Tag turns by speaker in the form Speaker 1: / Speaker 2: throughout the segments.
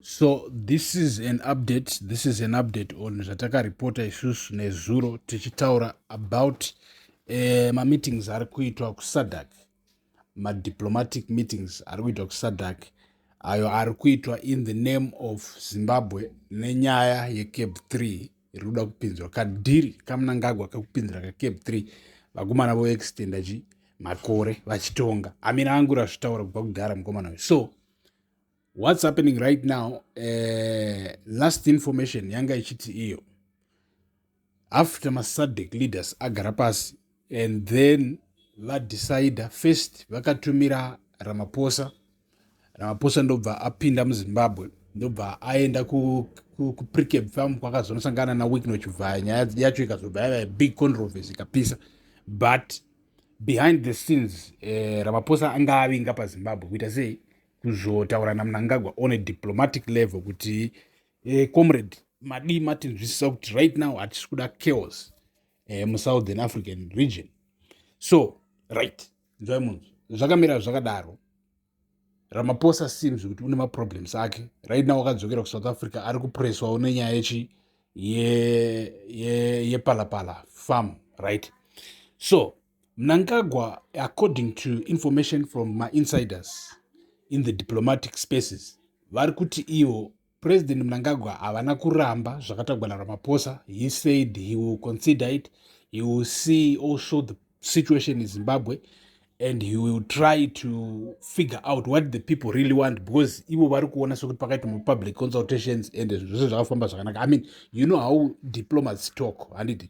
Speaker 1: so this is an update this is an update on zvatakareporta isusu nezuro tichitaura about eh, mameetings ari kuitwa kusadak madiplomatic meetings ari kuitwa kusadak ayo ari kuitwa in the name of zimbabwe nenyaya yecab 3 iri kuda kupinzwa kadhiri kamunangagwa kakupinzira kacab 3 vakomana voextenda chi makore vachitonga amina angu razvitaura kubva kudhara mukomana uyu so what's happening right now uh, last information yanga ichiti iyo after masadec leaders agara pasi and then vadecide first vakatumira ramaposa ramaposa ndobva apinda muzimbabwe ndobva aenda kupricab ku, ku farm kwakazonosangana nawikno chivhaya nyaya yacho ikazobva yava big controversy ikapisa but behind the scenes eh, ramaposa anga avinga pazimbabwe kuita sei kuzotaura namunangagwa on a diplomatic level kuti eh, comrade madii matinzwisisa kuti right now hatisi kuda chaos eh, musouthern african region so right nzwai munzwa zvakamira zvakadaro ramaposa seems kuti une maproblems ake right now akadzokera kusouth africa ari kupreswawo nenyaya yechi yepalapala ye, ye farm right so Mnangagwa according to information from ma insiders in the diplomatic spaces vari kuti ivo president mnangagwa havana kuramba zvakatagwa naramaphosa he said he will consider it he will see also the situation in zimbabwe and he will try to figure out what the people really want because ivo vari kuona sekuti pakaita mupublic consultations and zvese zvakafamba zvakanaka i mean you know how diplomats talk handiti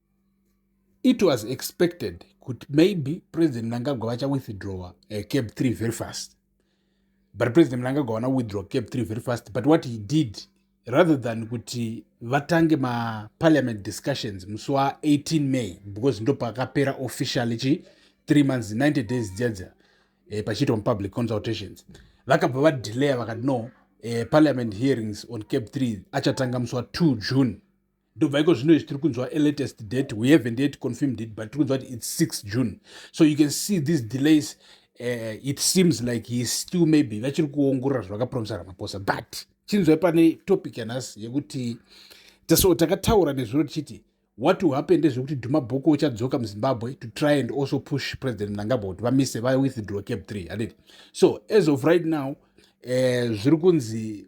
Speaker 1: it was expected kuti maybe president mnangagwa vachawithdrawa uh, cab 3 very fast but president mnangagwa vana withdraw cab 3 very fast but what he did rather than kuti vatange maparliament discussions musi wa18 may because ndo pakapera officially chi 3 months 90 days dziadza eh, pachiitwa mupublic consultations vakabva vadelaya vakati no eh, parliament hearings on cab 3 achatanga musi wa2 june ndobva iko zvino izvi tiri kunzwa alatest date we haven't yet confirmed it but tiri kunzwa kuti its 6 june so you can see these delays uh, it seems like he still maybe vachiri kuongorora zvavakapromisa ramaposa but chinzwai pane topic yanhasi yekuti so takataura nezviro tichiti what will happen ndezvekuti dhuma boko uchadzoka muzimbabwe to try and also push president mnangagwa kuti vamise vawithdraw cap 3 haniti so as of right now uh, zviri kunzi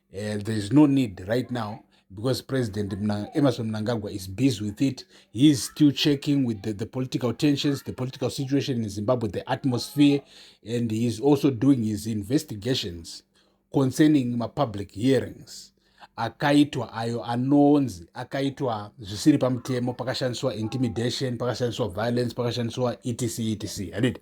Speaker 1: Uh, there is no need right now because President Emerson Mnangagwa is busy with it. He is still checking with the, the political tensions, the political situation in Zimbabwe, the atmosphere, and he is also doing his investigations concerning my public hearings. akaitwa ayo anonzi akaitwa zvisiri pamutemo pakashandiswa intimidation pakashandiswa violence pakashandiswa etc etc handiti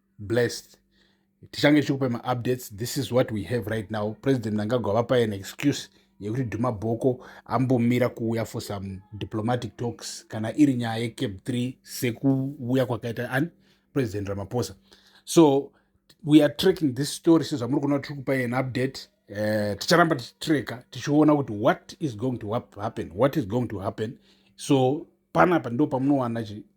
Speaker 1: blessed tichange tichikupa maupdates this is what we have right now president mnangagwa vapa an excuse yekuti dhuma bhoko ambomira kuuya for some diplomatic talks kana iri nyaya yecape 3 sekuuya kwakaita ani president ramaphosa so we are tracking this story sezvamuri kuona tiri kupa an update uh, ticharamba tichitreka tichiona kuti what is going to happen what is going to happen so panapa ndo pamunowana